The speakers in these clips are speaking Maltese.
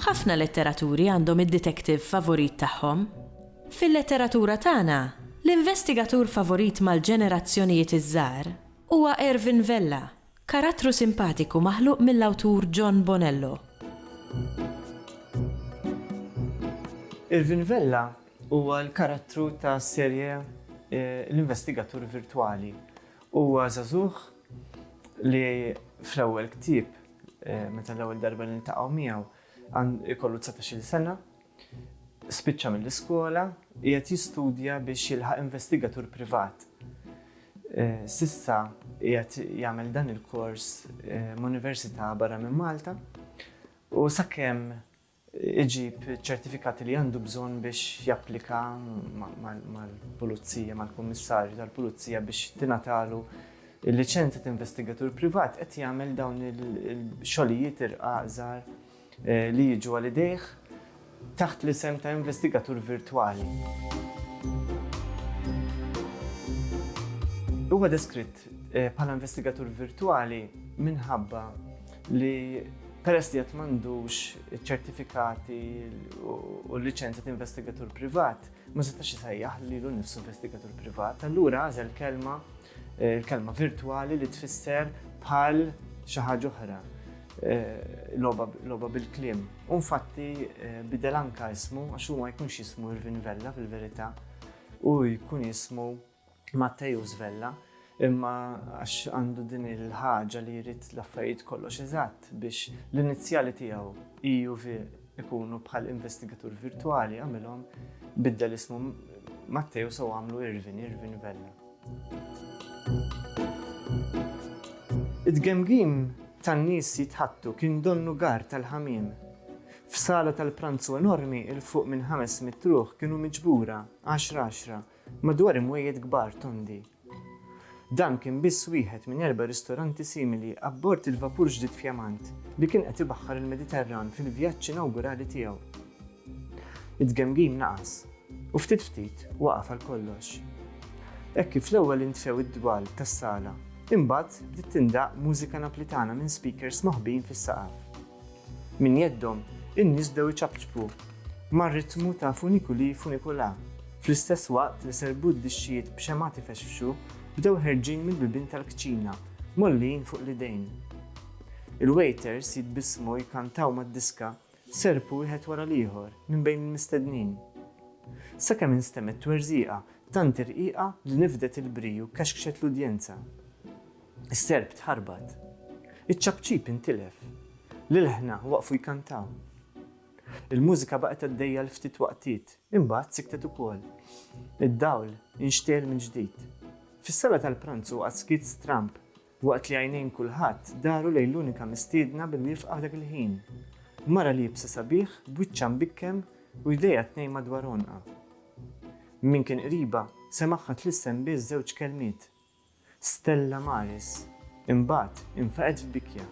Ħafna letteraturi għandhom id-detektiv favorit tagħhom. Fil-letteratura tagħna, l-investigatur favorit mal-ġenerazzjonijiet iż-żgħar huwa Ervin Vella, Karattru simpatiku maħluq mill-awtur John Bonello. Irvin Vella huwa l-karattru tas-serje L-Investigatur Virtwali. Huwa żagħżugħ li fl-ewwel ktieb, meta l-ewwel darba niltaqgħu miegħu, ikollu dsatax-il sena Spiċċa mill-iskola, qiegħed jistudja biex jilħaq investigatur privat. S'issa qiegħed jagħmel dan il-kors m'università barra minn Malta u sakemm iġib iċ-ċertifikati li għandu bżonn biex japplika mal-Pulizija, mal-Kummissarju tal-Pulizija biex tingħatalu l-liċenzja ta' investigatur privat, qed jagħmel dawn il-xogħlijiet irqaqżar. li jiġu għal idejh taħt l-isem ta' investigatur virtwali. Huwa deskritt bħala investigatur virtwali minħabba li peress li qed m'għandux iċ-ċertifikati u l-liċenzja ta' investigatur privat, ma setax isejjaħ lilu nnifsu investigatur privat, allura għażel kelma eh, kelma virtwali li tfisser bħal xi ħaġa oħra eh, loba bil-klim. U infatti eh, bidel anka ismu għax huma jkunx jismu Irvin Vella fil-verità u jkun jismu Matteus Vella, imma għax għandu din il-ħaġa li jrid l-affarijiet kollox eżatt biex l-inizjali tiegħu EUV ikunu bħal investigatur virtwali għamilhom biddel ismu Matteus u għamlu Irvin, Irvin Vella. Id-gemgim tan-nies jitħattu kien donnu gar tal-ħamim. F'sala tal-pranzu enormi il-fuq minn ħames mitruħ kienu miġbura 10-10 Madwar imwejjed kbar tondi. Dan kien biss wieħed minn erba' ristoranti simili abbord il-vapur ġdid fjamant li kien qed ibaħħar il-Mediterran fil-vjaġġ inawgurali tiegħu. It-tgemgim naqas, u ftit ftit waqaf għal kollox. Hekk kif l-ewwel intfew id-dwal tas-sala, imbagħad bdiet tindaqq mużika Naplitana minn speakers moħbijin fis-saqaf. Minn jeddhom, in-nies bdew iċapċpu mar-ritmu ta' Funiculi Funicula, fl-istess waqt li serbut dixxijiet b'xemgħat ifexfxu bdew ħerġin mill-bibien tal-kċina, mgħollijin fuq l-idejn. Il-waiters jitbissmu jkantaw mad-diska serpu wieħed wara l-ieħor minn bejn il-mistednin. Sakemm instemgħet twerżiqa tant irqiqa li nifdet il-bri u kexkxet l-udjenza. Is-serp tħarbat. Iċ-ċapċip intilef. L-ilħna waqfu jkantaw. Il-mużika baqgħet għaddejja għal ftit waqtiet, imbagħad siktet ukoll. Id-dawl inxtegħel mill-ġdid. Fis-sala tal-pranzu qagħad skiet stramb waqt li għajnejn kulħadd daru lejn l-unika mistiedna bil wifqa f'dak il-ħin. Mara liebsa sabiħ, b'wiċċha mbikkem u jdejha tnejn madwar għonqha. Min kien qriba, semagħha tlissem biss żewġ kelmiet, Stella Maris imbagħad infaqet f'bikja.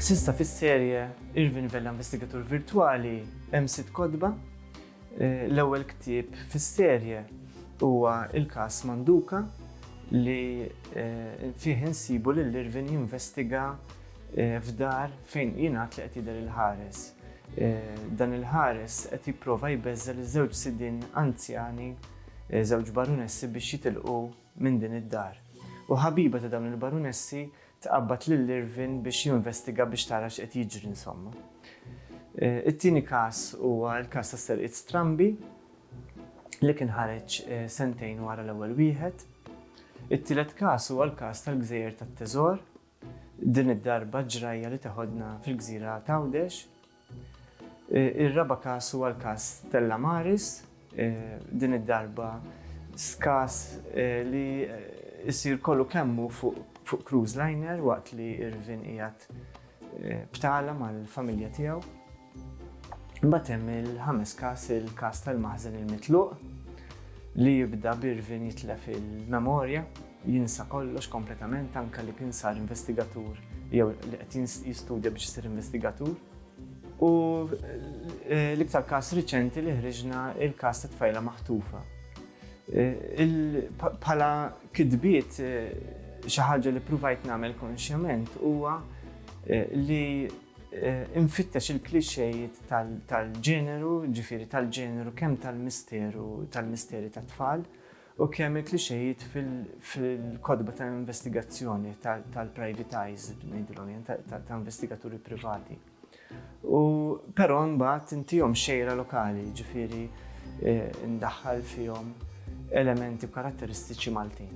S'issa fis-serje Irvin Vella Investigatur Virtwali hemm sitt kotba. L-ewwel ktieb fis-serje huwa l-każ Manduka li fih insibu lil Irvin jinvestiga Eh, f'dar fejn jingħad li qed jidher il-ħares. Eh, dan il-ħares qed jipprova jbeżżel iż-żewġ sidin anzjani, eh, żewġ barunessi biex jitilqu minn din id-dar. U ħabiba ta' dawn il-barunessi tqabbad lil Irvin biex jinvestiga biex tara x'qed jiġri insomma. It-tieni każ huwa l-każ ta' serqiet strambi li kien ħareġ sentejn wara l-ewwel wieħed. It-tielet każ huwa l-każ tal-gżejjer tat-teżor Din id-darba ġrajja li teħodna fil-gżira t'Għawdex. Ir-raba' każ huwa l-każ Stella Maris. Din id-darba każ li jsir kollu kemm hu fuq cruise liner waqt li Irvin qiegħed b'tala mal-familja tiegħu. Imbagħad hemm il-ħames każ, il-każ tal-maħżen il-mitluq li jibda b'Irvin jitlef il-memorja. Jinsa kollox kompletament anke li kien sar investigatur jew li qed jistudja biex isir investigatur. U l-iktar każ riċenti li ħriġna il-każ ta' tfajla maħtufa. Bħala kitbiet xi ħaġa li pruvajt nagħmel konxjament huwa li infittex il-klixxejiet tal-ġeneru, ġifieri tal-ġeneru kemm tal-misteru tal-misteri tat-tfal U kemm il-klixejiet fil-kotba ta' investigazzjoni tal-private eyes, ngħidilhom jien, ta' investigaturi privati. U però mbagħad intihom xejra lokali, ġifieri ndaħħal fihom elementi karatteristiċi Maltin.